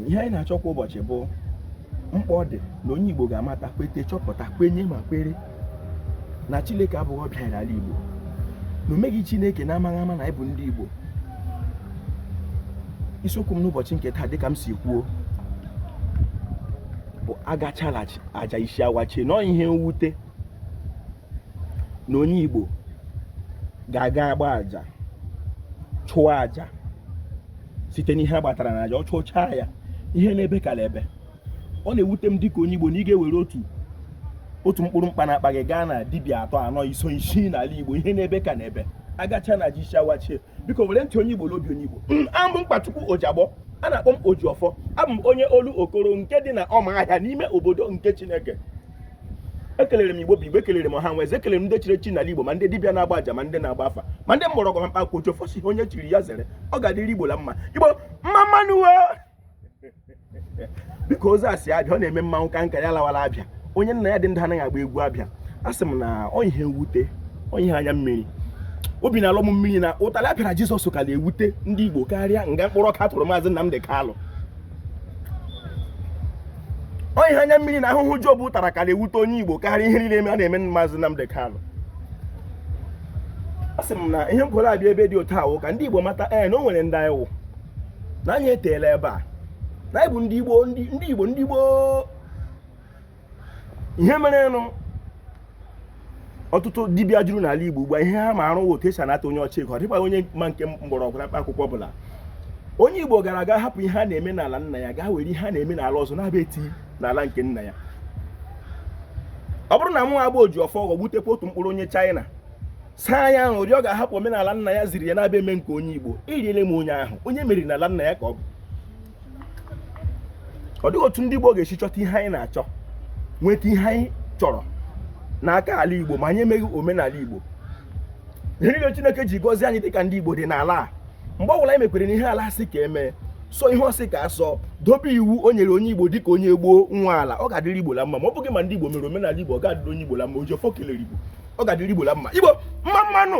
ihe anyị na-achọ kwa ụbọchị bụ mkpa ọ dị na onye Igbo ga-amata kwete chọpụta kwenye ma kwere na Chineke abụghị ọbịa n'ala Igbo na o meghị Chineke n'amaghị ama na anyị bụ ndị Igbo isiokwu m n'ụbọchị nke taa dịka m si kwuo bụ agacha la aja isi awachie na ọ ihe mwute na onye Igbo ga-aga agba aja chụọ aja site n'ihe a gbatara na aja ọ chụchaa ya ihe na-ebe ka na-ebe ọ na-ewute m dịka onye Igbo na ị ga-ewere otu otu mkpụrụ mkpa na-akpa gị gaa na dibịa atọ anọ iso isii n'ala Igbo ihe na-ebe ka na-ebe agacha na aja isi awachie biko were ntị onye Igbo n'obi onye Igbo mm, abụ m Mkpachukwu Ojiagbọ a na-akpọ m Ojiọfọ abụ m onye Olokoro nke dị na Ọmahịa n'ime obodo nke Chineke ekelere m igbo bụ igbo ekelere m ọha na eze ekelere m ndị chiri echi n'ala igbo ma ndị dibịa na-agba aja ma ndị na-agba afa ma ndị mgbọrọgwụ ma mkpa akwụkwọ Ojiọfọ sị ihe onye chiri ya zere ọ ga-adịrị igbo la mma igbo mma mma nụ uwe dịka ozi a si abịa ọ na-eme mmanwụ ka nka ya lawara abịa onye nna ya dị ndụ anaghị agba egwu abịa a sị m na ọ ihe mwute ọ ihe anya mmiri obi na-alọ m mmiri na ụtalị a pịara Jizọs ka na-ewute ndị igbo karịa nga mkpụrụ ọka a tụrụ Maazị Nnamdi Kanu ọ ihe anya mmiri na ahụhụ Job tara ka na-ewute onye Igbo karịa ihe niile a na-eme Maazị Nnamdi Kanu a sị m na ihe m kworo abịa ebe dị otu a wụ ka ndị Igbo mata ee eh, na o nwere ndị anyị wụ na anyị eteela ebe a na anyị bụ ndị Igbo ndị Igbo ndị Igbo ihe mere nụ ọtụtụ dibịa juru n'ala Igbo ugbu a ihe ha mara wụ otu e si anata onye ọcha ego ọ dịkwa onye ma nke mgbọrọgwụ na mkpa akwụkwọ ọbụla onye Igbo gara aga hapụ ihe a na-eme n'ala nna ya gaa were ihe a na-eme n'ala ọzọ na-abịa eti n'ala nke nna ya ọ bụrụ na mụ abụ Ojiọfọ ghọgbutekwa otu mkpụrụ onye China saa ya ahụ ụdị ọ ga-ahapụ omenala nna ya ziri ya na-abịa eme nke onye Igbo eriele m onye ahụ onye e meriri n'ala nna ya ka ọ bụ ọ dịghị otu ndị Igbo ga-esi chọta ihe anyị na-achọ nweta ihe anyị chọrọ n'aka ala Igbo ma anyị emeghị omenala Igbo ihe niile Chineke ji gọzie anyị dịka ndị Igbo dị n'ala a mgbe ọbụla anyị mekwere na ihe ala sị ka e mee sọọ ihe ọ sị ka a sọọ dobe iwu o nyere onye Igbo dịka onye gboo nwa ala ọ ga-adịrị Igbo la mma ma ọ bụghị ma ndị Igbo mere omenala Igbo ọ ga-adịrị onye Igbo la mma Ojiọfọ kelere Igbo ọ ga-adịrị Igbo la mma Igbo mma mma nụ